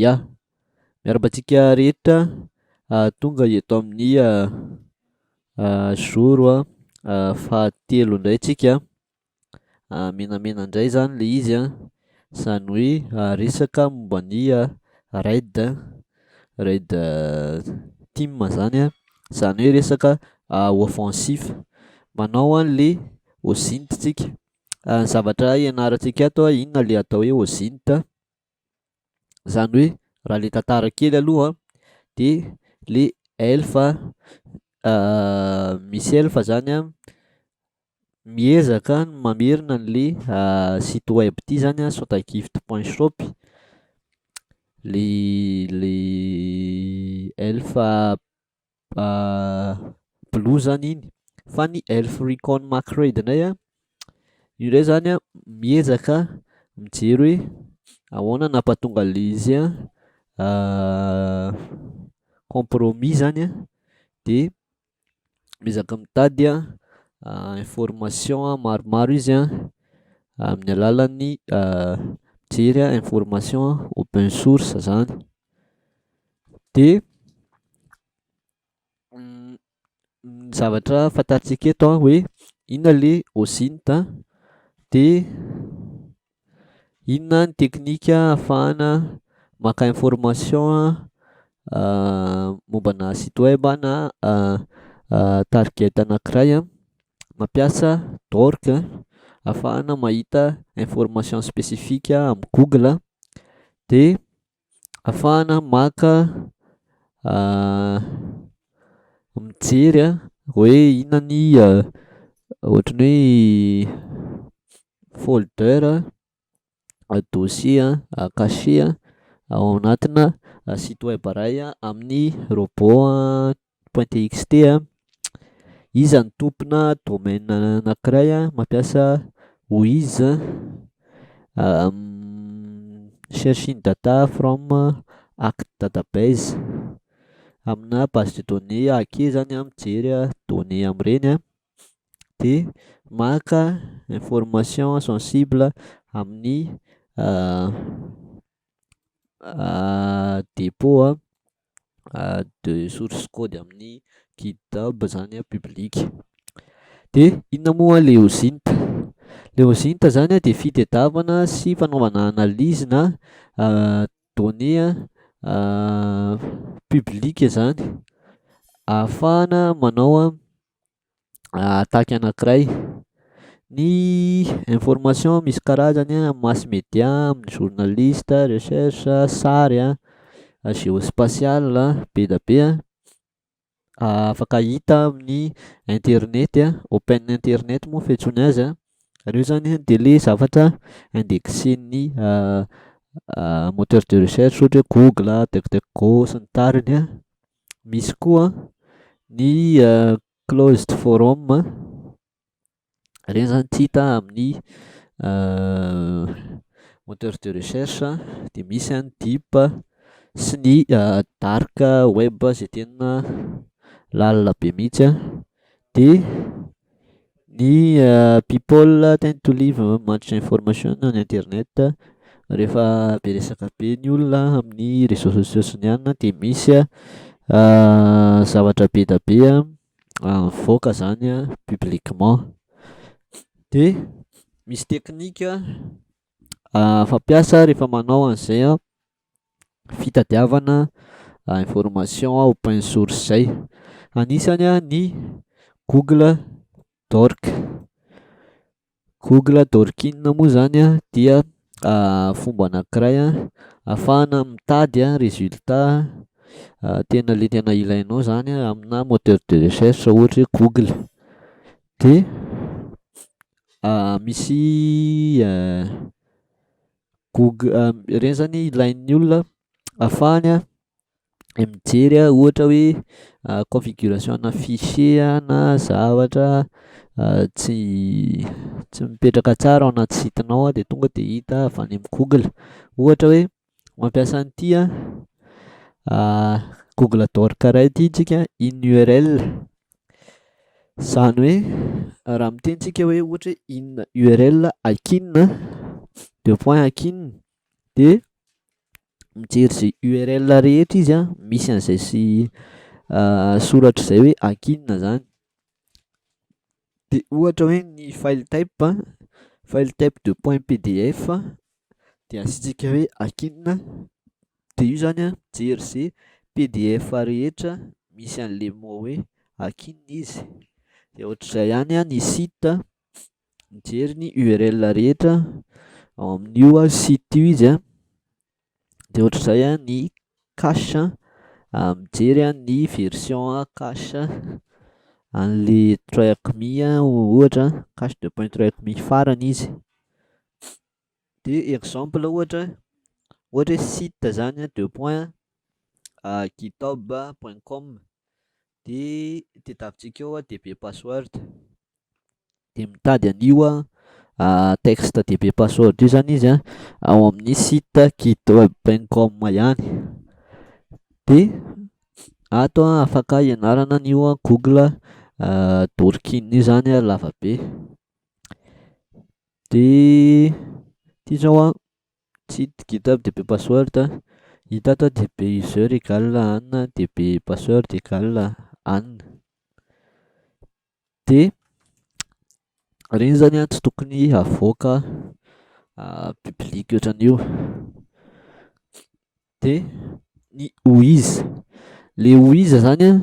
Ya! Miarahaba antsika rehetra tonga eto amin'ny jour fahatelo indray tsika, menamena indray izany ilay izy an! Izany hoe resaka momba ny RAID, RAID tim izany an! Izany hoe resaka offensif, manao an'ilay OSINT tsika. Ny zavatra hianarantsika ato an, inona ilay atao hoe OSINT, izany hoe raha ilay tantara kely aloha an, dia ilay elf misy elf izany an, miezaka ny mamerina an'ilay site web ity izany an, sotagift point shop, ilay ilay elf blue zany iny fa ny elf recon macradenay a io ndray zany a miezaka mijery hoe ahoana nampatonga le izy a compromis zany a de miezaka mitady a information maromaro izy a amin'ny alalan'ny mijery a information open source zany Dia ny zavatra fantatsika eto an hoe inona ilay OSINT an, dia inona ny teknika ahafahana maka information mombana site web na target anankiray an, mampiasa d'org ahafahana mahita information spécifique amin'ny google an, dia. afahana maka mijery hoe inona ny ohatran'ny hoe folder, dossier, cachet ao anatina site web iray amin'ny robot Point.txt Iza no tompona domaine anankiray mampiasa OIs Searching data from act database Amina base de données ag zany an, mijery données amin'ireny dia maka information sensible amin'ny dépôt de source code amin'ny GitHub zany a public, de inona moa le OSINT? le OSINT zany de fitedavana sy fanaovana analyse na données public zany ahafahana manao attaque anankiray. Ny information misy karazany an, amin'ny mass media, amin'ny journaliste, recherche, sary an, geospatial, be dia be an, afaka hita amin'ny internet, open internet moa fiantsoana azy an, ireo zany an dia le zavatra indexen'ny moteur de recherche ohatra hoe google, duck duck go sy ny tariny an. misy koa ny closed forum a, ireny zany tsy hita amin'ny moteur de recherche a, de misy any deep a, sy ny dark web izay tena lalina be mihitsy a, de. Ny people tend to live much information on internet, rehefa be resaka be ny olona amin'ny réseaux sociaux sy ny anona dia misy zavatra be dia be mivoaka izany publiquement, dia misy teknika fampiasa rehefa manao an'izay an. fitadiavana information open source zay, anisany ny google dork, google dorkin moa zany an dia fomba anakiray afahana mitady resultat tena le tena ilainao zany amina moteur de recherche ohatry hoe google dia misy Gog- ireny zany ilain'ny olona afahany mijery ohatra hoe configuration ana fichier na zavatra tsy tsy mipetraka tsara ao anaty site nao de tonga de hita avy any amin'ny google, ohatra hoe mampiasa an'ity an google adore caray ity tsika, iny url. Izany hoe raha miteny isika hoe ohatra hoe in url akin a deux points akin de mijery izay url rehetra izy an misy an'izay sy soratra izay hoe akin izany de ohatra hoe ny file type an, file type deux points pdf dia asiantsika hoe akin dia io izany an, mijery ze pdf rehetra misy an'le mot hoe akin izy, dia ohatr'izay ihany an ny site, mijery ny url rehetra ao amin'io site io izy an, dia ohatr'izay an ny cache, mijery an ny version cache an'le tracme ohatra an, cache de pointracme farany izy. De exemple ohatra ohatra hoe site zany a deux points a github point com de tadiavintsika eo a db password de mitady an'io a texte db password io zany izy a ao amin'ny site github point com ihany de ato a afaka ianarana an'io a google dorkin io zany a lavabe. De ty zao an, tsy hita GitHub dia be password, hita ato dia be user égale ann dia be password égale ann, de reny zany an tsy tokony havoaka public otran'io, de ny OIz, le OIz zany an.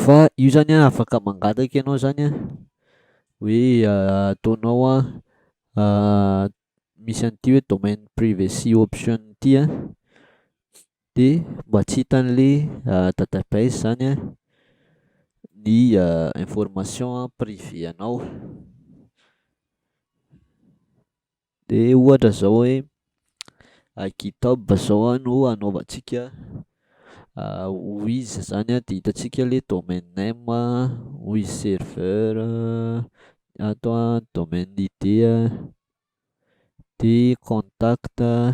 Fa io zany an afaka mangataka ianao zany an hoe ataonao an misy an'ity hoe domaine privacy option ity an de mba tsy hitan'le database zany an ny information prive anao. De ohatra zao hoe GitHub zao an no anaovantsika wizz zany an de hitantsika le domaine name an, wizz server an, ato an domaine id an, de contact an.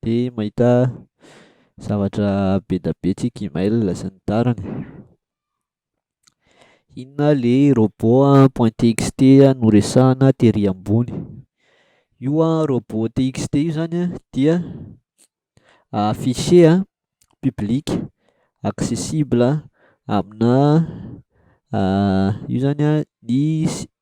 dia mahita zavatra be dia be tsy Gmail sy ny tariny. Inona ilay robot point txt noresahina tery ambony? Io an robot txt io izany an dia fichier public accessible amina io izany an ny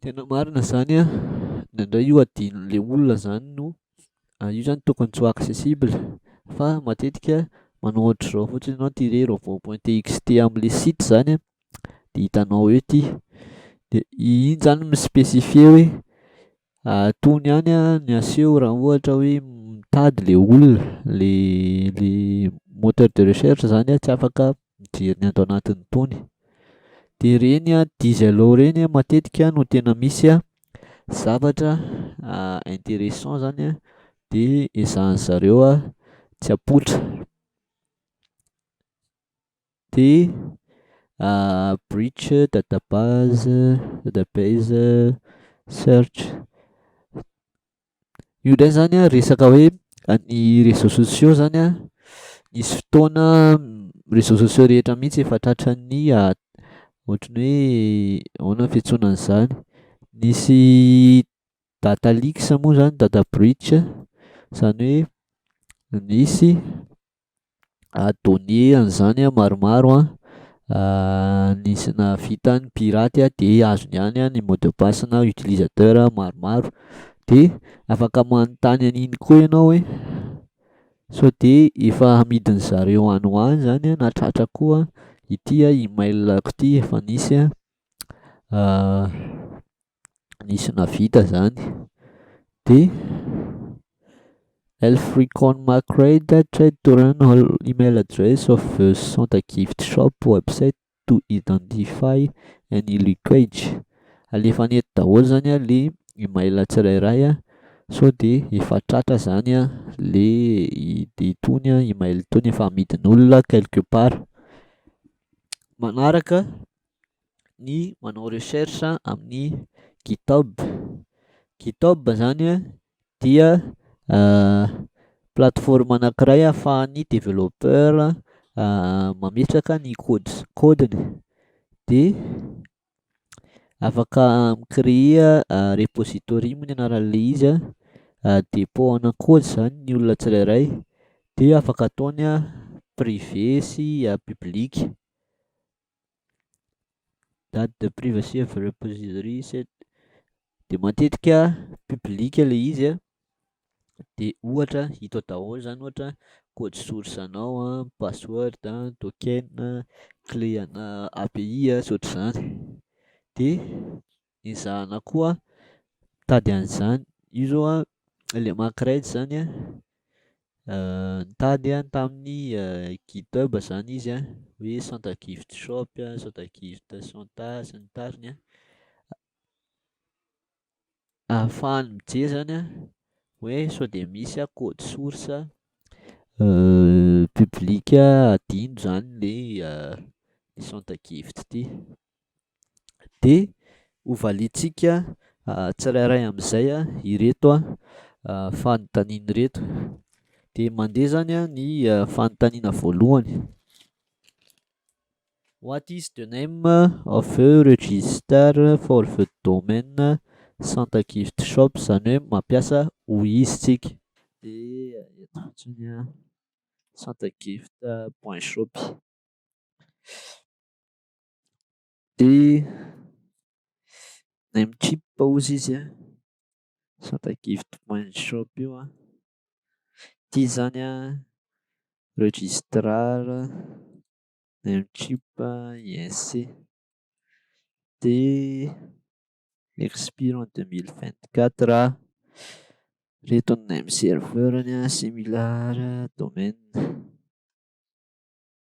Tena marina zany an! Indraindray io adinon'le olona zany no, io zany tokony tsy ho accessible fa matetika manao ohatr'izao fotsiny enao ty re robot point txt amle site zany an! de hitanao eo ty de iny zany mi specifier hoe tony ihany an ny aseho raha ohatra hoe mitady le olona le le moteur de recherche zany an! tsy afaka mijery ny ato anatiny itony de ireny diesel ao ireny matetika no tena misy zavatra interessant izany an de ezahin'ny zareo tsy apoitra de bridge, dada base, dada base, search Io indray izany an, resaka hoe ny réseaux sociaux izany an, nisy fotoana réseaux sociaux rehetra mihitsy efa tratran'ny ohatra ny hoe ahoana ny fiantsoana an'izany? Nisy data leaks moa izany, data breach, izany hoe nisy données an'izany an maromaro an, nisy nahavita ny pirate de azony any ny mot de passe na utilisateur maromaro, de afaka manontany an'iny koa ianao hoe sao de efa amidin'ny zareo any ho any zany na tratra koa ity email-ko ity efa nisy an. nisy nahavita izany dia lfreeconmacradeattradeturanal email address of the santa gift shop website to identify any leakage alefa any eto daholo izany ilay email tsirairay sao dia efa tratra izany ilay itony email itony efa amidin'olona quelque part manaraka ny manao recherche amin'ny GitHub. GitHub zany dia plateforme anankiray ahafahan'ny développeur mametraka ny code- code-ny de afaka mi-creer repository moa ny anaran'le izy a, dépôt ana code zany ny olona tsirairay de afaka ataony privé sy public. Date de pris va sy repositori set de matetika public ilay izy an, de ohatra hita ao daholo zany ohatra code source anao an, password an, token an, clé ana API an, sy ohatr'izany de. Ezahana koa mitady an'izany. Io izao an, ilay Makraids izany an, nitady aho tamin'ny Github izany izy an, hoe Santa Gift Shop, Santa Gift Santa sy ny tariny an, ahafahany mijery izany an, hoe sao dia misy an code source public hadino izany ilay Santa Gift ity. dia ho valiantsika tsirairay amin'izay ireto fanontaniana ireto. Dia mandeha izany ny fanontaniana voalohany: What is the name of the register for the domain Santa Gift Shop? izany hoe mampiasa hoy izy isika. Dia eto fotsiny Santa Gift point shop. Dia name chip ozy izy an, sata gift mind shop io an, ity izany an, registrar, name chip, inc. Dia expire en deux mille vingt quatre an, ireto ny name serveur-ny an, similar, domaine.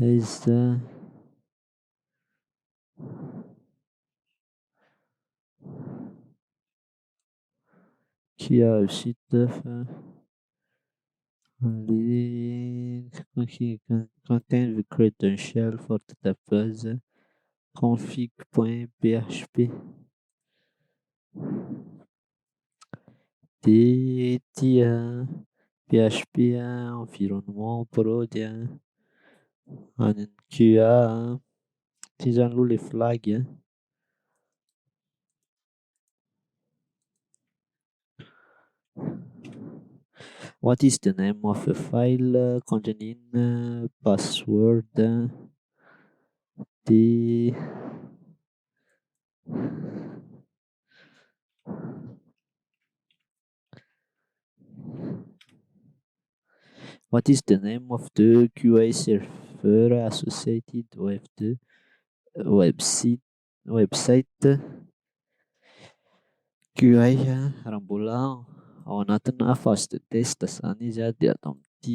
Aiza? Kia vita fa le content credential for database config point php. DT an, PHP an, environnement, prod an, any amin'ny QA an, tsy izany aloha ilay flag an. What is the name of the file containing password an, dia. What is the name of the QA server associated with the website website QA raha mbola ao anatina phase de test izany izy dia ato amin'ity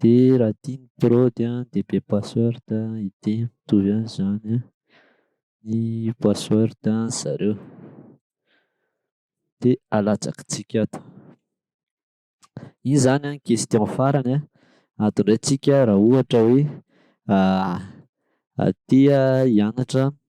Dia raha tia ny prod an dia be password an ity mitovy an izany an ny password an zareo. Dia alatsakintsika ato. Io izany an question farany an adindraintsika raha ohatra hoe aty hianatra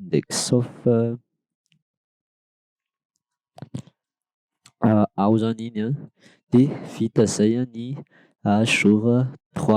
Indekshof ao zany iny an de vita zay ny jour trois.